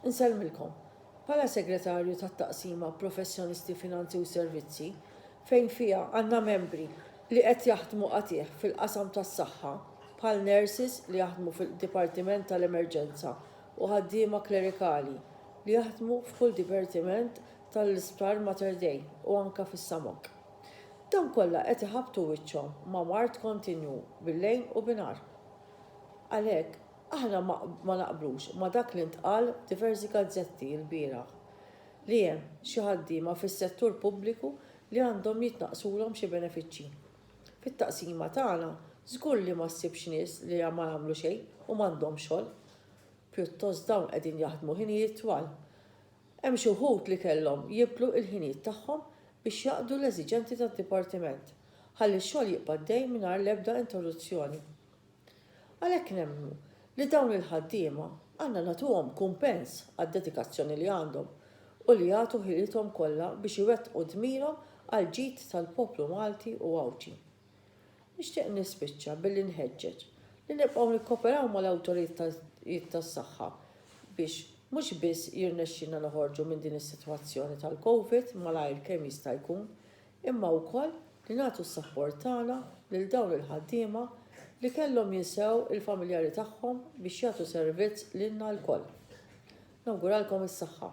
Insellmilkom, bħala Segretarju tat-Taqsima Professjonisti Finanzi u Servizzi, fejn fiha għandna membri li qed jaħdmu qatigħ fil-qasam tas-saħħa, bħal nurses li jaħdmu fil-dipartiment tal-emerġenza u ħaddiema klerikali li jaħdmu f'kull dipartiment tal-Isptar Mater Dei u anke fis-SAMOC. Dawn kollha qed iħabbtu wiċċhom ma' mard kontinwu bil-lejl u binhar. Għalhekk, Aħna ma naqblux ma' dak li ntqal f'diversi gazzetti lbieraħ, li hemm xi ħaddiema fis-settur pubbliku li għandhom jitnaqqsulhom xi benefiċċji. Fit-taqsima tagħna żgur li ma ssibx nies li ma jagħmlu xejn u m'għandhomx xogħol. Pjuttost dawn qegħdin jaħdmu ħinijiet twal. Hemm xi wħud li kellhom jibdlu l-ħinijiet tagħhom biex jaqdu l-eżiġenti tad-dipartiment, ħalli x-xogħol jibqa' għaddej mingħajr l-ebda interruzzjoni. Għalhekk nemmnu li dawn il-ħaddiema għandna nagħtuhom kumpens għad-dedikazzjoni li għandhom u li jagħtu ħilithom kollha biex iwettqu dmirhom għall-ġid tal-poplu Malti u Għawdxi. Nixtieq nispiċċa billi nħeġġeġ li nibqgħu nikkoperaw mal-awtoritajiet tas-saħħa biex mhux biss jirnexxilna noħorġu minn din is-sitwazzjoni tal-Covid malajr kemm jista' jkun, imma wkoll li nagħtu s-sapport tagħna lil dawn il-ħaddiema li kellhom jinsew il-familjari tagħhom biex jagħtu servizz lilna lkoll. Nawguralkom is-saħħa.